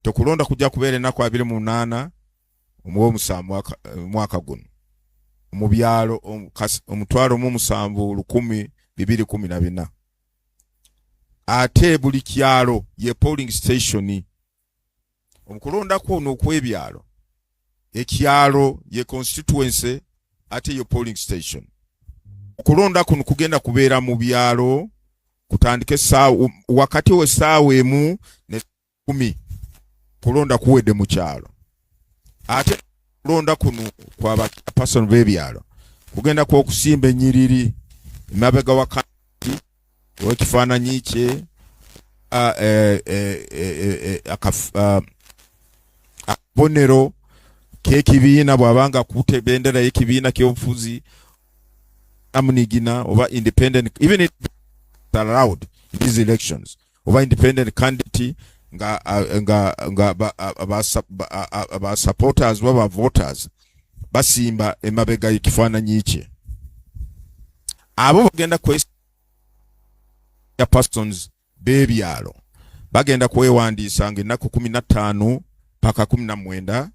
tokulonda kujja kubeera ennaku abiri mu munaana omwomusaa mwaka eh, guno mu byalo omutwalo mu musanvu lukumi bibiri kumi na bina ate buli kyalo ye polling station omukulonda kwono okwebyalo ekyalo ye constituency ate ye polling station okulonda kuno kugenda kubeera mu byalo kutandika esaawa wakati wesaawa emu kumi kulonda kuwedde mu kyalo ate kulonda kuno kwa bapasoni b'ebyalo kugenda kwokusimba enyiriri emabega wa kanti wekifaananyi kye akabonero kekibiina bwabanga kute bendera yekibiina kyobufuzi amunigina oba independent even it allowed these elections oba independent candidate nga nga nga ba supporters baba voters basimba emabega ekifaananyi kye abo bagenda kwe ya persons bebyalo bagenda kwewandiisa nga ennaku kumi na ttaano paka kumi na mwenda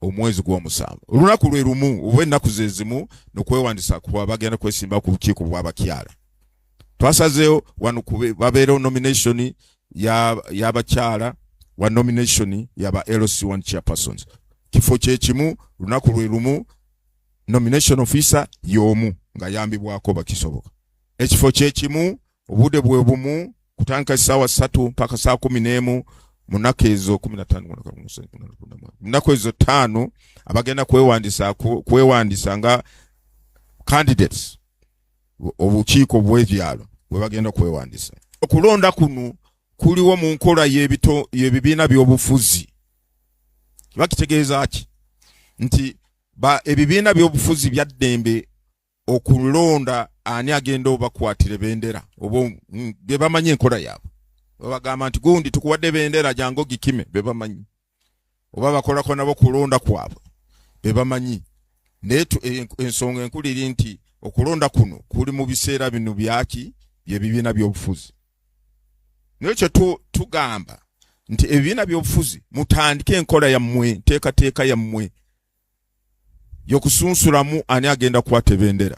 omwezi gw'omusanvu olunaku lwe lumu oba ennaku ze zimu nokwewandisa kuba bagenda kwesimba ku bukiiko bw'abakyala twasazeewo wano babeerewo nomination y'abakyala ya wa nomination yaba lc1 chairpersons kifo kyekimu lunaku lwe lumu nomination officer y'omu ng'ayambibwako bakisoboka ekifo kyekimu obude bwe bumu kutandika essaawa ssatu mpaka saa kumi n'emu munaku ezo kumi natanomunaku ezo ttaano abagenda kwewandisa kwewandisa nga candidates obukiiko bwebyalo bwebagenda kwewandisa okulonda kuno kuliwo mu nkola yebibiina byobufuzi bakitegeeza ki nti ebibiina byobufuzi byaddembe okulonda ani agenda obakwatire bendera oba mm, bebamanyi enkola yaabwe babagamba nti gundi tukuwadde bendera jangu ogikime bebamanyi oba bakolako nabo kulonda kwabwe bebamanyi naye e, ensonga enkulu eri nti okulonda kuno kuli mu biseera bino byaki byebibiina byobufuzi naye kyo tugamba nti ebibiina byobufuzi mutandike enkola yammwe nteekateeka yammwe yokusunsulamu ani agenda kwata ebendera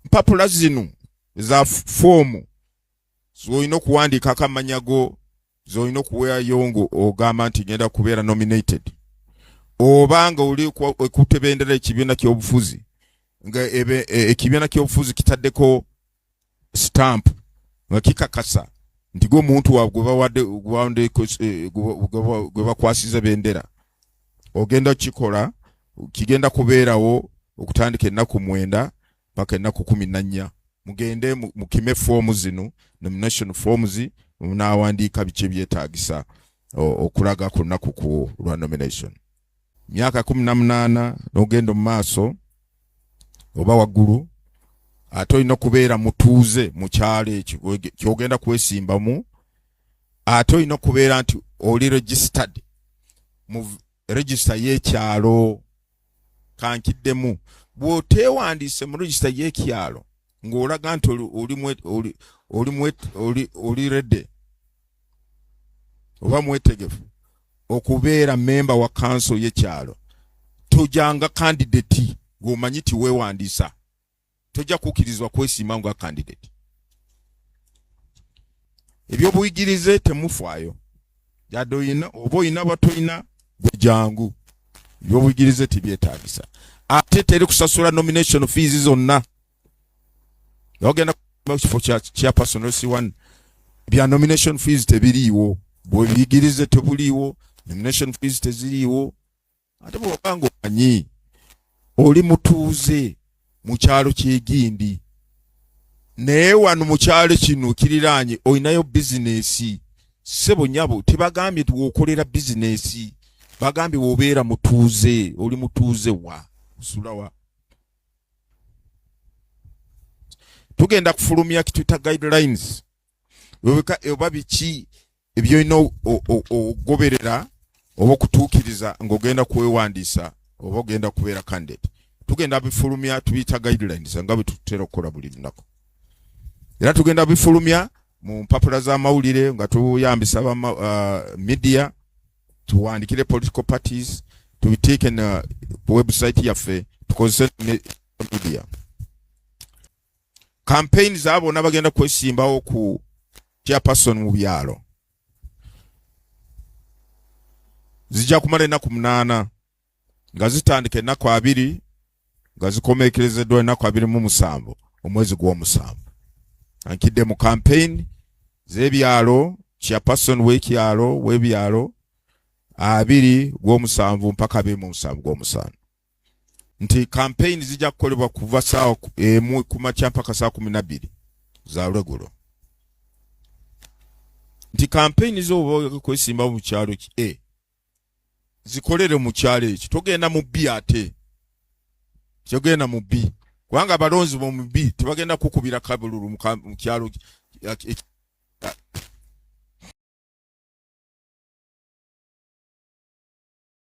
mpapula zino za foomu zolina okuwandiikako amanya go zolina okuweayo nga ogamba nti genda kubeera nominated oba nga oli ekutebendera ekibiina kyobufuzi nga e, ekibiina kyobufuzi kitaddeko stamp nga kikakasa nti gwe omuntu waabwe gwe bawadde eh, gwe bakwasiza bendera ogenda kukikola kigenda kubeerawo okutandika ennaku mwenda paka ennaku kumi nannya mugende mukime foomu zino nomination forms munaawandiika biki ebyetaagisa okulaga ku lunaku ku lwa nomination myaka kumi na munaana n'ogenda mu maaso oba waggulu ate olina okubeera mutuuze mu kyalo ekyo kyogenda kwesimbamu ate olina okubeera nti oli registered mu register y'ekyalo kankiddemu bw'oteewandiise mu register y'ekyalo ng'olaga nti oli rede oba mwetegefu okubeera memba wa kanso yekyalo tojanga kandidati gwomanyi ti wewandisa tojja kukirizibwa kwesiima nga kandidati ebyobuyigirize temufaayo yadde oyina oba oyina batoyina gwejangu ebyobuyigirize tibyetagisa ate teri kusasula nomination fees zonna ogenda kifo kya personal si one bya nomination fees tebiriiwo bwebiyigirize tebuliiwo nomination fees teziriiwo ate bwobanga omanyi oli mutuuze mu kyalo kyegindi naye wano mu kyalo kino kiriraanye olinayo bizinesi sebo nyabo tebagambye tiwokolera bizinesi bagambye wobeera mutuuze oli mutuuze wa osulawa tugenda kufulumya kituyita guidelines oba biki ebyolina okugoberera oba okutuukiriza ng'ogenda kwewandiisa oba ogenda kubeera candidate tugenda bifulumya tubiyita guidelines nga bwe tutera okukola buli lunaku era tugenda bifulumya mu mpapula z'amawulire nga tuyambisa ba uh, media tuwandikire political parties tubiteeke na website yaffe tukozese media campaign za bonna bagenda kwesimbawo ku chairperson mu byalo zijja kumala ennaku munaana nga zitandika ennaku abiri nga zikomeekerezeddwa ennaku abiri mu musanvu omwezi gw'omusanvu ankidde mu kampeyini z'ebyalo chairperson w'ekyalo w'ebyalo abiri gw'omusanvu mpaka abiri mu musanvu gw'omusanvu nti kampeyini zijja kukolebwa kuva saawa emu ku makya mpaka saawa kumi na bbiri za lwegulo nti kampeyini zooba okwesimbawo mu kyalo ki e zikolere mu kyalo ekyo togenda mu bbi ate togenda mu bbi kubanga abalonzi bomu bbi tebagenda kukubira kabululu mu kyalo